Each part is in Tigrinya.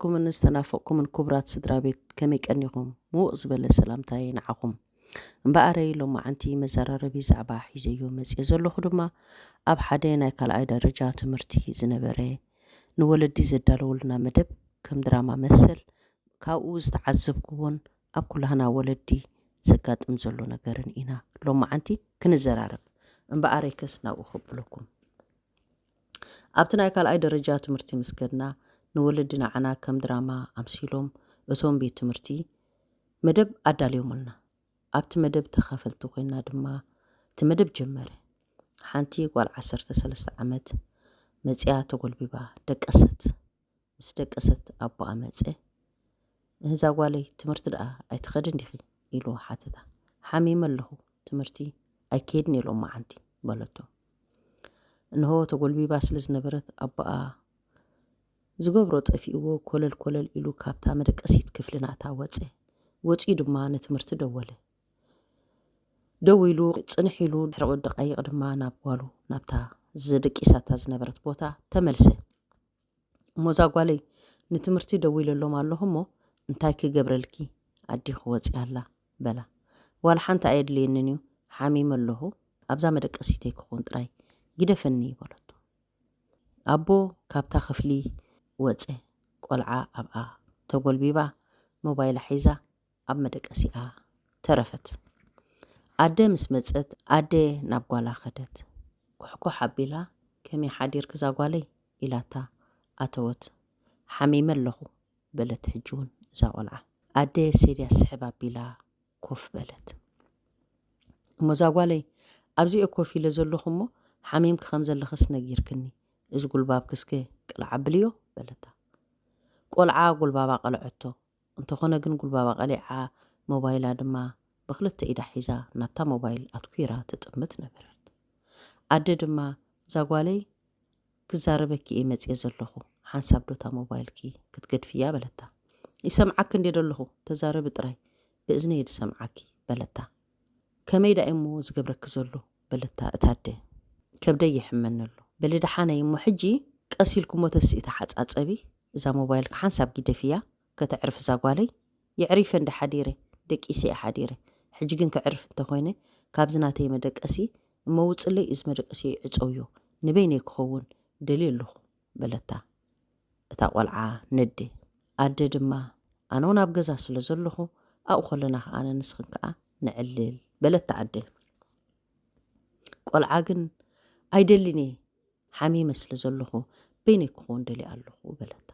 ዝናፈቅኩምን ዝተናፈቅኩምን ኩቡራት ስድራ ቤት ከመይ ቀኒኹም ምውቕ ዝበለ ሰላምታየይ ንዓኹም እምበኣረይ ሎማዓንቲ መዘራረቢ ዛዕባ ሒዘዮ መጽየ ዘለኹ ድማ ኣብ ሓደ ናይ ካልኣይ ደረጃ ትምህርቲ ዝነበረ ንወለዲ ዘዳለወልና መደብ ከም ድራማ መሰል ካብኡ ዝተዓዘብኩዎን ኣብ ኩላህና ወለዲ ዘጋጥም ዘሎ ነገርን ኢና ሎማዓንቲ ክንዘራረብ እምበኣረይ ከስ ናብኡ ከብለኩም ኣብቲ ናይ ካልኣይ ደረጃ ትምህርቲ ምስ ከድና፣ ንወለዲ ንዓና ከም ድራማ ኣምሲሎም እቶም ቤት ትምህርቲ መደብ ኣዳልዮምልና። ኣብቲ መደብ ተኻፈልቲ ኮይና ድማ እቲ መደብ ጀመረ። ሓንቲ ጓል ዓሰርተ ሰለስተ ዓመት መጺኣ ተጎልቢባ ደቀሰት። ምስ ደቀሰት ኣቦኣ መጸ። እዛ ጓለይ ትምህርቲ ደኣ ኣይትኸድን ዲኺ? ኢሉ ሓተታ። ሓሚመ ኣለኹ፣ ትምህርቲ ኣይከይድን እየ ሎማዓንቲ በለቶ። እንሆ ተጎልቢባ ስለ ዝነበረት ኣቦኣ ዝገብሮ ጠፊእዎ ኮለል ኮለል ኢሉ ካብታ መደቀሲት ክፍሊ ናታ ወጸ። ወጺኡ ድማ ንትምህርቲ ደወለ። ደው ኢሉ ጽንሕ ኢሉ ድሕሪ ደቃይቕ ድማ ናብ ጓሉ ናብታ ዘደቂሳታ ዝነበረት ቦታ ተመልሰ። እሞዛ ጓለይ ንትምህርቲ ደዊለሎም ኣለኹ እሞ እንታይ ክገብረልኪ ኣዴኺ ወፂኣ ኣላ በላ ዋላ ሓንቲ ኣየድልየንን እዩ ሓሚመ ኣለኹ ኣብዛ መደቀሲተይ ክኾን ጥራይ ግደፈኒ በለቶ ኣቦ ካብታ ክፍሊ ወፀ ቆልዓ ኣብኣ ተጎልቢባ ሞባይላ ሒዛ ኣብ መደቀሲኣ ተረፈት። ኣደ ምስ መጸት ኣደ ናብ ጓላ ከደት። ኩሕኩሕ ኣቢላ ከመይ ሓዲርኪ ዛጓለይ ኢላታ ኣተወት። ሓሚመ ኣለኹ በለት ሕጂውን እዛ ቆልዓ። ኣደ ሴድያ ስሕብ ኣቢላ ኮፍ በለት። እሞ ዛጓለይ ኣብዚ'የ ኮፍ ኢለ ዘለኹ እሞ ሓሚምኪ ከም ዘለኽስ ነጊርክኒ እዚ ጉልባብኪ እስከ ቅልዕ ኣብልዮ በለታ። ቆልዓ ጉልባባ ቀለዐቶ። እንተኾነ ግን ጉልባባ ቀሊዓ፣ ሞባይላ ድማ ብኽልተ ኢዳ ሒዛ ናብታ ሞባይል ኣትኲራ ትጥምት ነበረት። ኣደ ድማ፣ እዛ ጓለይ ክዛረበኪ እየ መጺኤ ዘለኹ፣ ሓንሳብ ዶ እታ ሞባይልኪ ክትገድፍያ? በለታ። ይሰምዓኪ እንድየ ደለኹ፣ ተዛረቢ ጥራይ፣ ብእዝነይ እየ ዝሰምዓኪ፣ በለታ። ከመይ ደኣ እዩ'ሞ ዝገብረኪ ዘሎ? በለታ እታ ኣደ። ከብደይ ይሕመኒ ኣሎ። በሊ ደሓነይ እሞ ሕጂ ቀስ ኢልኪ'ሞ ተስኢ ተሓጻጸቢ፣ እዛ ሞባይልኪ ሓንሳብ ጊደፍያ፣ ከተዕርፍ እዛ ጓለይ። የዕሪፈ እንደ ሓዲረ፣ ደቂሰ'የ ሓዲረ። ሕጂ ግን ከዕርፍ እንተ ኾይነ፣ ካብዚ ናተይ መደቀሲ እሞ ውጽለይ፣ እዚ መደቀሲየይ ዕጸውዮ፣ ንበይነይ ክኸውን ደልየ ኣለኹ። በለታ እታ ቆልዓ ነዲ ኣደ ድማ ኣነ ውን ኣብ ገዛ ስለ ዘለኹ ኣብኡ ከለና ከ ኣነ ንስኽን ከኣ ንዕልል በለታ ኣደ ቆልዓ ግን ኣይደሊን እየ ሓሚመ ስለ ዘለኹ በይነይ ክኸውን ደሊ ኣለኹ በለታ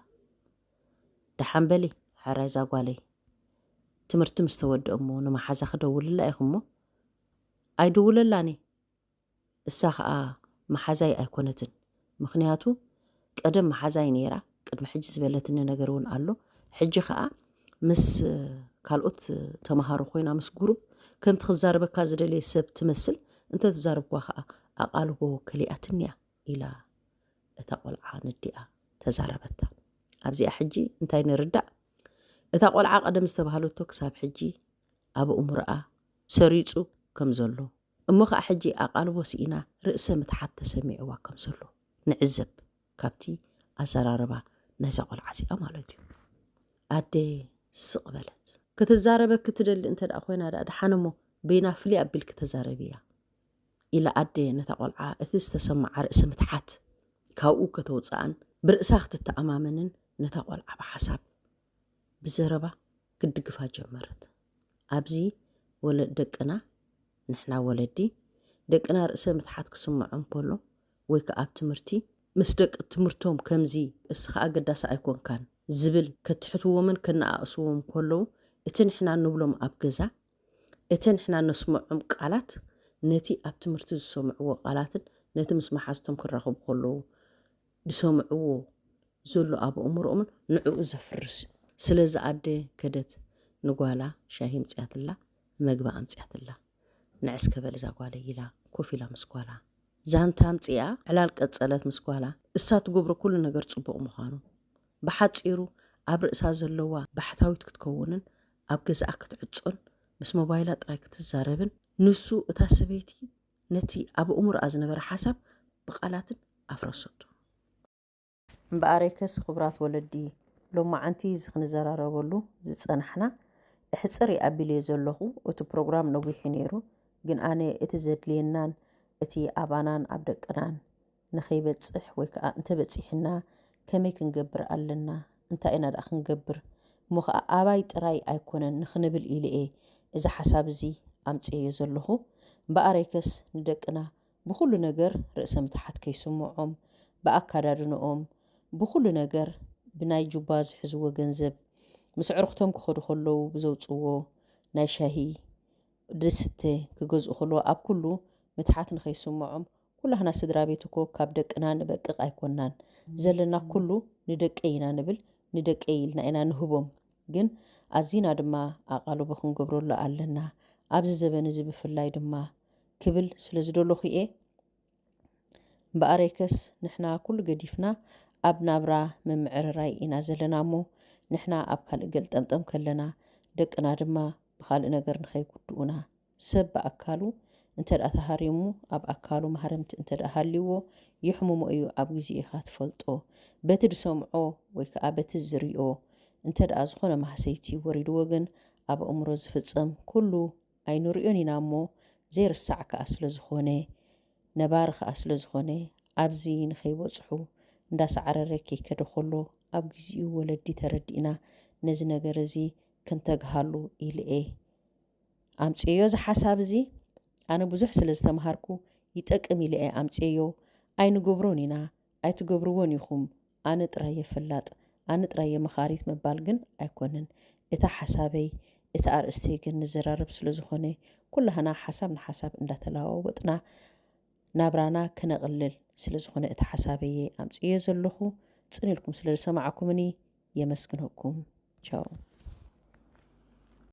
ደሓን በሊ ሕራይ ዛጓለይ ትምህርቲ ምስ ተወድእ እሞ ንመሓዛ ክደውልላ ኢኹ እሞ ኣይድውለላን እየ እሳ ከኣ መሓዛይ ኣይኮነትን ምኽንያቱ ቀደም መሓዛይ ነይራ ቅድሚ ሕጂ ዝበለትኒ ነገር እውን ኣሎ ሕጂ ከኣ ምስ ካልኦት ተማሃሮ ኮይና ምስ ጉሩብ ከምቲ ክዛረበካ ዝደለየ ሰብ ትመስል እንተ ተዛረብክዋ ከኣ ኣቓልቦ ከሊኣትኒ እያ ኢላ እታ ቆልዓ ንዲኣ ተዛረበታ ኣብዚኣ ሕጂ እንታይ ንርዳእ እታ ቆልዓ ቀደም ዝተባህለቶ ክሳብ ሕጂ ኣብ እሙርኣ ሰሪጹ ከም ዘሎ እሞ ከኣ ሕጂ ኣቓልቦ ስኢና ርእሰ ምትሓት ተሰሚዕዋ ከም ዘሎ ንዕዘብ ካብቲ ኣዘራርባ ናይዛ ቆልዓ እዚኣ ማለት እዩ። ኣደ ስቕ በለት። ክትዛረበኪ ትደሊ እንተ ደኣ ኮይና ደኣ ደሓን እሞ በይና ፍልይ ኣቢልኪ ተዛረብያ ኢላ ኣደ ነታ ቆልዓ እቲ ዝተሰምዓ ርእሰ ምትሓት ካብኡ ከተውጽኣን ብርእሳ ክትተኣማመንን ነታ ቆልዓ ብሓሳብ ብዘረባ ክትድግፋ ጀመረት። ኣብዚ ወለ ደቅና ንሕና ወለዲ ደቅና ርእሰ ምትሓት ክስምዖም ከሎ ወይ ከኣ ኣብ ትምህርቲ ምስ ደቂ ትምህርቶም ከምዚ እስኻ ኣገዳሲ ኣይኮንካን ዝብል ከትሕትዎምን ከነኣእስዎም ከለዉ እቲ ንሕና ንብሎም ኣብ ገዛ እቲ ንሕና ነስምዖም ቃላት ነቲ ኣብ ትምህርቲ ዝሰምዕዎ ቃላትን ነቲ ምስ መሓዝቶም ክራኸቡ ከለዉ ዝሰምዕዎ ዘሎ ኣብ ኣእምሮኦምን ንዕኡ ዘፍርስ ስለዚ ኣደ ከደት ንጓላ ሻሂ ኣምጺኣትላ መግቢ ኣምጺኣትላ ንዕስከ በል እዛ ጓለይ ኢላ ኮፍ ኢላ ምስ ጓላ ዛንታ ኣምጺኣ ዕላል ቀጸለት ምስ ጓላ እሳ ትገብሮ ኩሉ ነገር ጽቡቕ ምዃኑ ብሓጺሩ ኣብ ርእሳ ዘለዋ ባሕታዊት ክትከውንን ኣብ ገዛኣ ክትዕጾን ምስ ሞባይላ ጥራይ ክትዛረብን ንሱ እታ ሰበይቲ ነቲ ኣብ እሙርኣ ዝነበረ ሓሳብ ብቓላትን ኣፍረሰቶ። እምበኣሬከስ ኽብራት ወለዲ ሎማዓንቲ እዚ ክንዘራረበሉ ዝጸናሕና እሕጽርይ ኣቢልዮ ዘለኹ እቲ ፕሮግራም ነዊሕዩ ነይሩ ግን ኣነ እቲ ዘድልየናን እቲ ኣባናን ኣብ ደቅናን ንኸይበጽሕ ወይ ከኣ እንተ በጺሑና ከመይ ክንገብር ኣለና፣ እንታይ ኢና ደኣ ክንገብር፣ እሞ ኸኣ ኣባይ ጥራይ ኣይኮነን ንኽንብል ኢለ'የ እዚ ሓሳብ እዚ ኣምጺኤዮ ዘለኹ። እምበኣረይከስ ንደቅና ብኹሉ ነገር ርእሰ ምትሓት ከይስምዖም፣ ብኣካዳድንኦም፣ ብኹሉ ነገር፣ ብናይ ጁባ ዝሕዝዎ ገንዘብ፣ ምስ ኣዕሩኽቶም ክኸዱ ከለዉ ብዘውጽዎ ናይ ሻሂ ድስተ ክገዝኡ ከለዉ ኣብ ኩሉ ምትሓት ንኸይስምዖም፣ ኩላህና ስድራ ቤት እኮ ካብ ደቅና ንበቅቅ ኣይኮናን ዘለና ኩሉ ንደቀይ ኢና ንብል ንደቀይ ኢልና ኢና ንህቦም ግን ኣዚና ድማ ኣቓልቦ ክንገብረሉ ኣለና ኣብዚ ዘበን እዚ ብፍላይ ድማ ክብል ስለ ዝደለኹ እየ እምበኣረይከስ ንሕና ኩሉ ገዲፍና ኣብ ናብራ ምምዕርራይ ኢና ዘለና እሞ ንሕና ኣብ ካልእ ገልጠምጠም ከለና ደቅና ድማ ብኻልእ ነገር ንኸይጉድኡና ሰብ ብኣካሉ እንተድኣ ተሃሪሙ ኣብ ኣካሉ ማህረምቲ እንተድኣ ሃልይዎ የሕምሞ እዩ ኣብ ግዜ ኢኻ ትፈልጦ በቲ ድሰምዖ ወይ ከኣ በቲ ዝሪኦ እንተድኣ ዝኾነ ማህሰይቲ ወሪድዎ ግን ኣብ ኣእምሮ ዝፍጸም ኩሉ ኣይንሪኦን ኢና እሞ ዘይርሳዕ ከኣ ስለዝኾነ ነባሪ ከኣ ስለዝኾነ ኣብዚ ንኸይበጽሑ እንዳሳዕረረ ከይከደ ኮሎ ኣብ ግዚኡ ወለዲ ተረዲእና ነዚ ነገር እዚ ክንተግሃሉ ኢሊ'የ። ኣምጽኤዮ እዚ ሓሳብ እዚ ኣነ ብዙሕ ስለ ዝተምሃርኩ ይጠቅም ኢለ እየ ኣምጽኤዮ ኣይንገብሮን ኢና ኣይትገብርዎን ኢኹም ኣነ ጥራይ እየ ፈላጥ ኣነ ጥራይ እየ መኻሪት ምባል ግን ኣይኮነን እታ ሓሳበይ እቲ ኣርእስተይ ግን ንዘራረብ ስለ ዝኾነ ኩላህና ሓሳብ ንሓሳብ እንዳተለዋወጥና ናብራና ክነቕልል ስለ ዝኾነ እቲ ሓሳበይ እየ ኣምጽኤዮ ዘለኹ ጽን ኢልኩም ስለ ዝሰማዕኩምኒ የመስግነኩም ቻው